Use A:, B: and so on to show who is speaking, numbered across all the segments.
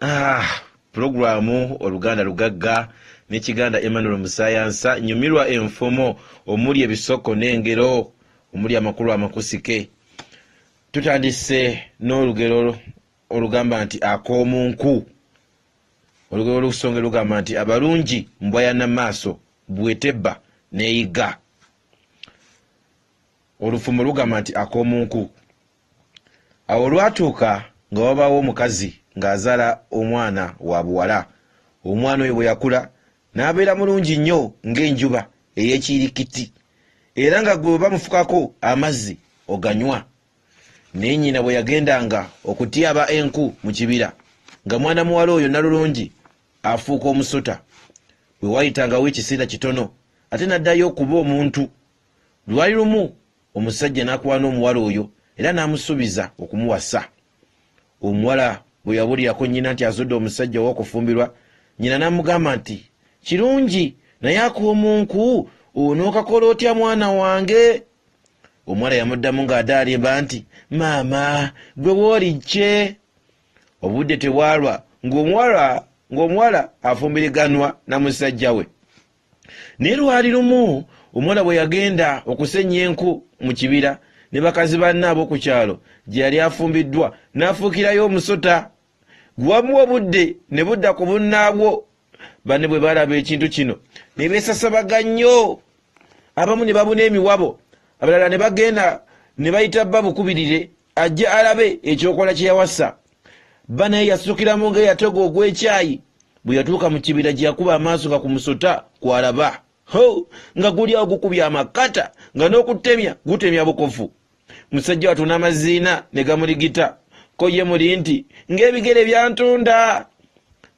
A: ah, pulogulaamu oluganda lugagga n'ekiganda emmanuel musayansa nyumirwa enfumo omuli ebisoko n'engero omuli amakulu amakusike tutandise n'olugero olugamba nti ak'omu nku olugero lusonge lugamba nti abalungi mbwa ya namaaso bwetebba neyiga olufumo lugamba nti ak'omu nku Awo olwatuuka nga wabaawo omukazi ng'azaala omwana wa buwala. Omwana oyo bwe yakula n'abeera mulungi nnyo ng'enjuba ey'ekiyirikitti, era nga gwe bwe bamufukako amazzi oganywa. Naye nnyina bwe yagendanga okutyaba enku mu kibira, nga mwana muwala oyo nnalulungi afuuka omusota. Bwe waayitangawo ekiseera kitono ate n'addayo okuba omuntu. Lwali lumu. omusajja n'akuwana omuwala oyo era n'amusuubiza okumuwasa. Omuwala bwe yabuulirako nnyina nti azudde omusajja ow'okufumbirwa, nnyina n'amugamba nti, Kirungi, naye ak'omunku onookakola otya mwana wange? Omuwala yamuddamu ng'adaalimba nti, Maama, ggwe wooli kye? Obudde tebwalwa ng'omuwala ng'omuwala afumbiriganwa na musajja we. Naye lwali lumu omuwala bwe yagenda okusennya enku mu kibira ne bakazi banne ab'oku kyalo gye yali afumbiddwa, n'afuukirayo omusota. Guwaamu obudde ne budda ku bunnaabwo. Banne bwe baalaba ekintu kino ne beesasabaga nnyo. Abamu ne babuna emiwabo, abalala ne bagenda ne bayita bba bukubirire ajja alabe ekyokola kye yawasa bba naye yasukiramu nga eyatega ogw'ekyayi bwe yatuuka mu kibira gye yakuba amaaso nga ku musota kw'alaba ho nga guli awo gukubya amakata nga n'okutemya gutemya bukofu musajja watuna amaziina ne gamuligita ko ye muli nti ng'ebigere byantunda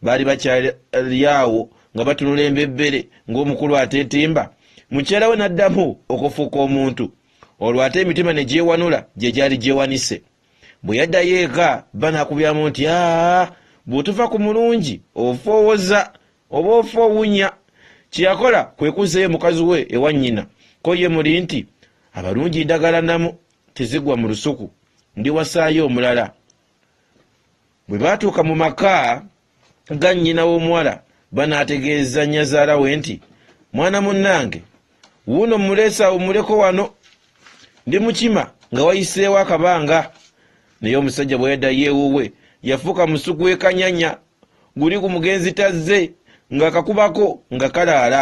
A: baali bakyalyawo nga batunula embebbere ng'omukulu ateetimba mukyala we n'addamu okufuuka omuntu olwo ate emitima ne gyewanula gye gyali gyewanise bwe yaddayo eka bba n'akubyamu nti aa bw'otuva ku mulungi ofa owoza oba ofa owunya kye yakola kwe kuzzayo mukazi we ewa nnyina ko ye muli nti abalungi ndagala namu tezigwa mu lusuku ndiwasaayo omulala bwe baatuuka mu maka Nga nnyina w'omuwala banaategeeza nnyazaala we nti, Mwana munnange, wuuno mmuleese awummuleko wano, ndi mukima nga wayiseewo akabanga. Naye omusajja bwe yaddayo ewuwe, yafuuka musu gw'ekanyanya guli ku mugenzi tazze ng'akakubako nga kalaala.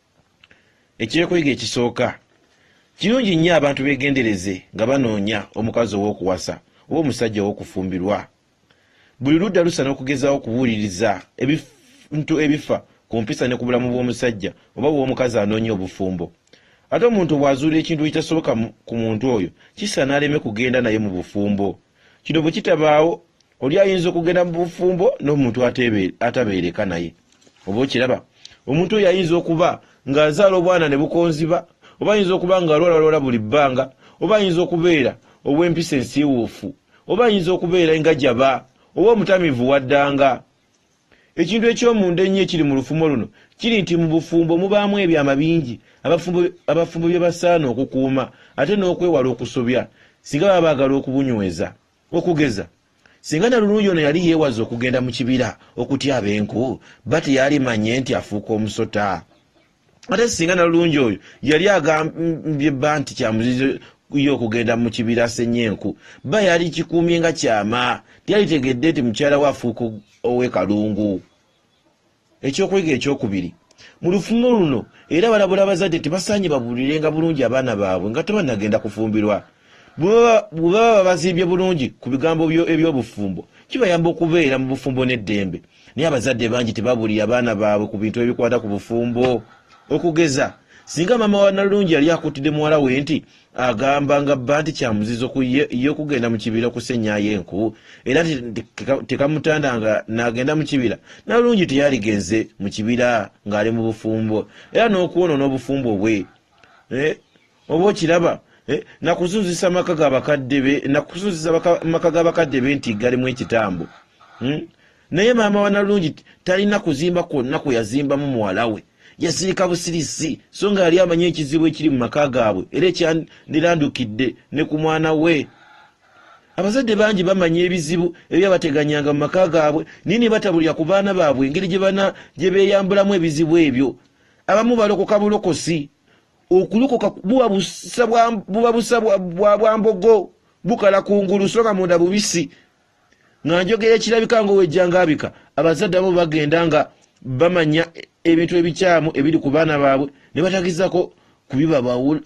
A: Eky'okuyiga ekisooka, Kirungi nnyo abantu beegendereze nga banoonya omukazi ow'okuwasa oba omusajja ow'okufumbirwa. Buli ludda lusaana okugezaawo okubuuliriza ebintu ebifa ku mpisa ne ku bulamu bw'omusajja oba bw'omukazi anoonya obufumbo. Ate omuntu bw'azuula ekintu ekitasoboka ku muntu oyo, kisaana aleme kugenda naye mu bufumbo. Kino bwe kitabaawo, oli ayinza okugenda mu bufumbo n'omuntu atabeereka naye. Oba okiraba, omuntu oyo ayinza okuba ng'azaala obwana ne bukonziba, oba ayinza okuba ng'alwalalwala buli bbanga, oba ayinza okubeera ow'empisa ensiiwuufu, oba ayinza okubeera engajaba, oba omutamiivu waddanga. Ekintu eky'omunda ennyo ekiri mu lufumo luno kiri nti mu bufumbo mubaamu ebyama bingi abafumbo abafumbo bye basaana okukuuma ate n'okwewala okusobya singa baba baagala okubunyweza. Okugeza, singa Nalulungi ono yali yeewaze okugenda mu kibira okutyaba enku, bba teyalimanye nti afuuka omusota. ate singa nalulungi oyo yali agambye bba nti kyamuzizo ye okugenda mu kibira asenye enku bba yali kikuumye nga kyama tiyalitegedde nti mukyala we afuuka ow'ekalungu ekyokuyiga ekyokubiri mu lufumo luno era balabula abazadde tebasaanye babuulire nga bulungi abaana baabwe nga tebanagenda kufumbirwa bwe baba babazimbye bulungi ku bigambo eby'obufumbo kibayamba okubeera mu bufumbo n'eddembe naye abazadde bangi tebabuulira baana baabwe ku bintu ebikwata ku bufumbo okugeza singa maama wa nalungi yali akuttidde muwala we nti agamba nga bba nti kyamuzizo ku ye ye okugenda mu kibira okusenyayo enku era tekamutanda nga n'agenda mu kibira nalungi teyaligenze mu kibira ng'ali mu bufumbo era n'okwonoona obufumbo bwe eh, oba okiraba eh, nakuzuzisa maka gabakadde be nakuzuzisa maka gabakadde be nti galimu ekitambo hmm? naye maama wanalungi talina kuzimba kwonna kwe yazimbamu muwala we yasirika busirisi so nga yali amanyi ekizibu ekiri mu maka gaabwe era ekyandirandukidde ne ku mwana we abazadde bangi bamanya ebizibu ebyabateganyanga mu maka gaabwe naye ne batabulira ku baana baabwe engeri gye beeyambulamu ebizibu ebyo abamu balokoka bulokosi okulokoka buba busa bwa buba busa bwa bwa bwambogo bukala ku ngulu soka munda bubisi nga njogera ekirabika nga owejjangabika abazadde abo bagenda nga bamanya ebintu ebikyamu ebiri ku baana baabwe ne batagizako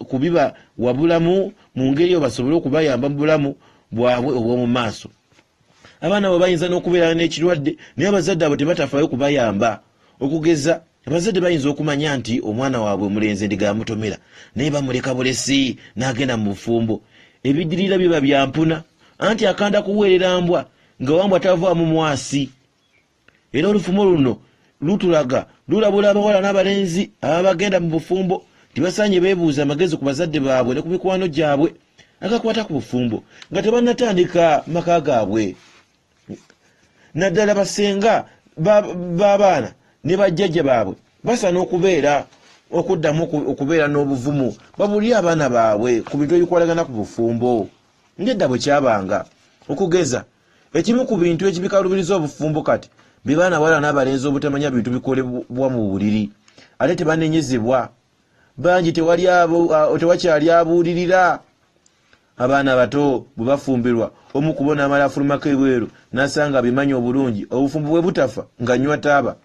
A: kubiba wabulamu mu ngeri eyo basobole okubayamba mu bulamu bwabwe obw'omu maaso abaana bwe bayinza n'okubeera n'ekirwadde naye abazadde abo tebatafaayo kubayamba okugeza Abazadde bayinza okumanya nti omwana waabwe omulenzi endiga yamutomera naye bamuleka bulesi n'agenda mu bufumbo. Ebidirira biba bya mpuna anti akanda kuweerera mbwa nga wambwa tavaamu mwasi. Era olufumo luno lutulaga lulabula abawala n'abalenzi ababa bagenda mu bufumbo nti basaanye beebuuze amagezi ku bazadde baabwe ne ku mikwano gyabwe agakwata ku bufumbo nga tebannatandika maka gaabwe. naddala basenga b'abaana ne bajjajja baabwe basaana okubeera okuddamu okubeera n'obuvumu babulire abaana baabwe ku bintu ebikwalagana ku bufumbo ngedda bwe kyabanga okugeza ekimu ku bintu ekibikalubiriza obufumbo kati be baana bawala n'abalenzi obutamanya bintu bikolebwa mu buliri ate tebanenyezebwa bangi tewakyali abuulirira abaana abato bwe bafumbirwa omu kubo n'amala afulumako ebweru n'asanga abimanyi obulungi obufumbo bwe butafa nga nywa taaba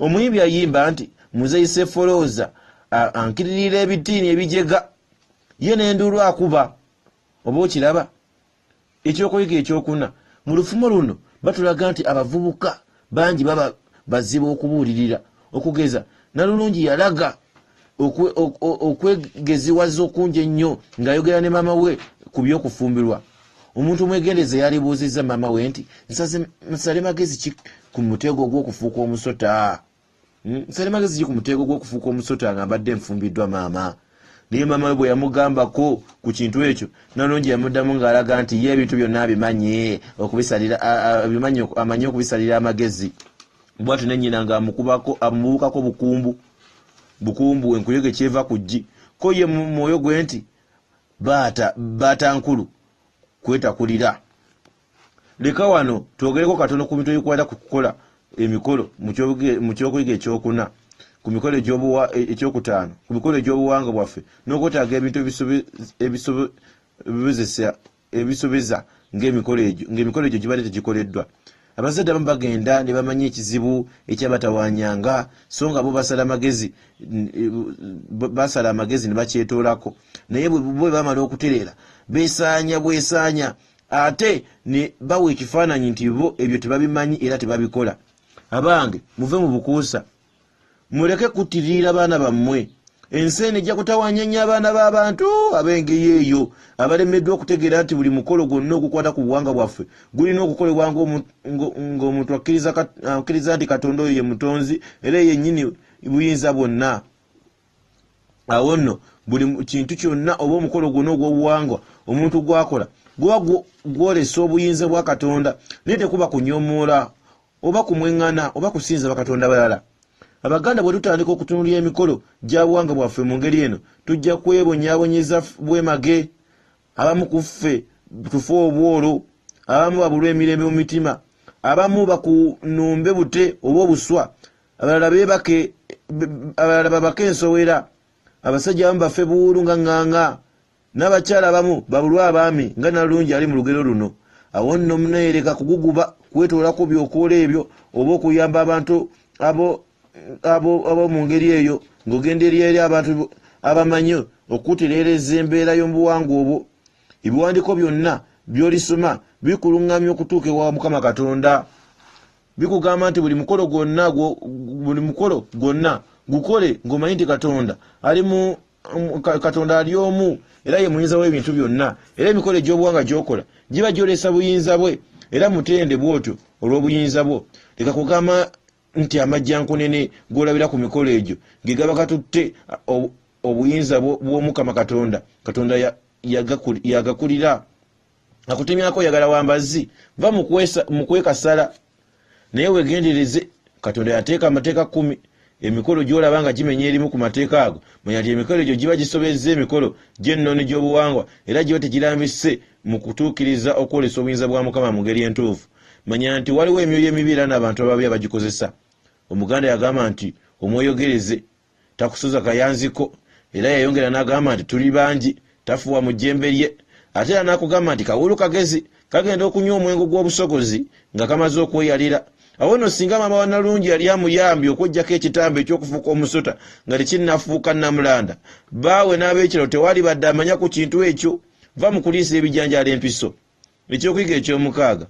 A: omuyimbi ayimba nti muzeyi sefolooza ankiririra ebitiini ebijega ye n'enduulu akuba oba okiraba Ekyokuyiga ekyokuna, Mu lufumo luno batulaga nti abavubuka bangi baba bazibu okubuulirira. Okugeza, Nalulungi yalaga okwegeziwaza okungi ennyo ng'ayogera ne maama we ku by'okufumbirwa. Omuntu omwegendereza yandibuuzizza maama we nti, Nsale magezi ki ku mutego gw'okufuuka omusota? Hmm, nsale magezi ki ku muteego gw'okufuuka omusota nga mbadde nfumbiddwa maama naye maama we bwe yamugambako ku kintu ekyo nalungi yamuddamu ng'alaga nti ye ebintu byonna abimanyi okubisalira abimanyi amanyi okubisalira amagezi bwati ne nnyina ng'amukubako amubuukako bukumbu bukumbu enkuyege kyeva ku ggi ko ye mu mwoyo gwe nti baata baata nkulu kwetakulira Leka wano twogereko katono ku bintu ebikwata ku kukola emikolo mu ky'okuyiga eky'okuna, ku mikolo egy'okutaano, ku mikolo egy'obuwanga bwaffe, n'okwetaaga ebintu ebisubiza ng'emikolo egyo gibadde tegikoleddwa. Abazadde abamu bagenda ne bamanya ekizibu ekyabatawanyanga, so nga bo basala amagezi ne bakyetoolako. Naye bwe bamala okutereera, beesaanya bwesaanya ate ne bawa ekifaananyi nti bo ebyo tebabimanyi era tebabikola abange muve mu bukuusa muleke kuttirira baana bammwe ensi eno ejja kutawanya nnyo abaana b'abantu ab'engeri eyo abalemeddwa okutegeera nti buli mukolo gwonna ogukwata ku buwanga bwaffe gulina okukolebwa ng'omuntu akkiriza nti katonda oyo ye mutonzi era yennyini buyinza bwonna awo nno buli kintu kyonna oba omukolo gwonna ogw'obuwangwa omuntu gwakola guba gwolesa obuyinza bwa katonda naye tekuba kunyomoola oba kumweŋŋana oba kusinza bakatonda balala abaganda bwe tutandika okutunulira emikolo gya buwanga bwaffe mu ngeri eno tujja kwebonyabonyeza bwemage abamu ku ffe tufe obwolo abamu babulwa emirembe mu mitima abamu bakunumbe bute oba obuswa abalala bebake abalala babake ensowera abasajja abamu bafe buwuulu nga ŋŋaŋa n'abakyala abamu babulwa abaami nga nalungi ali mu lugero luno awo nno muneyereka kuguguba kwetoolako byokoola ebyo oba okuyamba abantu abo mu ngeri eyo ng'ogenda eri eri abantu abamanyi okutereereza embeera y'omubuwangwa obwo ebiwandiiko byonna by'olisoma bikuluŋŋamya okutuuka ewa mukama katonda bikugamba nti buli mukolo gwonna buli mukolo gwonna gukole ng'omanyi nti katonda ali mu um, katonda ali omu era ye muyinza w'ebintu byonna era emikolo egy'obuwanga gy'okola giba gyolesa buyinza bwe era mutende bw'otyo olw'obuyinza bwo leka kugamba nti amajjankunene g'olabira ku mikolo egyo ge gaba katutte obuyinza bw'omukama katonda katonda yagakulira akutemyako oyagala wambazzi va mukwekasala naye wegendereze katonda yateeka amateeka kumi emikolo gyolaba nga gimenya erimu ku mateeka ago manya nti emikolo egyo giba gisobezza emikolo gy'ennono gy'obuwangwa era giba tegirambise mu kutuukiriza okwolesa obuyinza bwa mukama mu ngeri entuufu manya nti waliwo emyoyo emibi era n'abantu ababi abagikozesa omuganda yagamba nti omwoyogereze takusuza kayanziko era yayongera n'agamba nti tuli bangi tafuwa mu jjembe lye ate era n'akugamba nti kawuulu kagezi kagenda okunywa omwengo gw'obusogozi nga kamaze okweyalira awo nno singa maama wa Nalungi yali amuyambye okwejjako ekitambo eky'okufuuka omusota nga tekinnafuuka Nnamulanda bbaawe n'ab'ekyalo tewaalibadde amanya ku kintu ekyo va mu kuliisa ebijanjaalo empiso. Ekyokuyiga eky'omukaaga,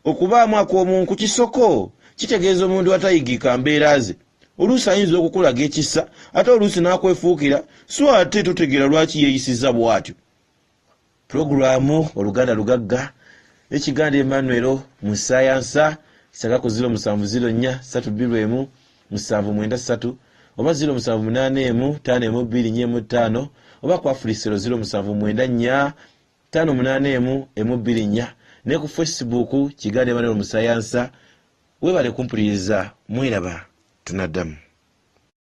A: Okubaamu akomu nku kisoko kitegeeza omuntu atayigika mbeera ze. Oluusi ayinza okukulaga ekisa ate oluusi n'akwefuukira so ate totegeera lwaki yeeyisizza bwatyo. Pulogulaamu Oluganda lugagga ekiganda Emmanuel mu ssaayansa ssaga ku ziro musanvu ziro nnya ssatu bbiru emu musanvu mwenda ssatu oba ziro musanvu munaana emu ttaano emu bbiri nnya emu ttaano oba ku Afulisero ziro musanvu mwenda nnya Ttaano munaana emu emu bbiri nnya ne ku Facebook Kigaana Emmanuel Musayansa Webale kumpuliriza mweraba tunaddamu.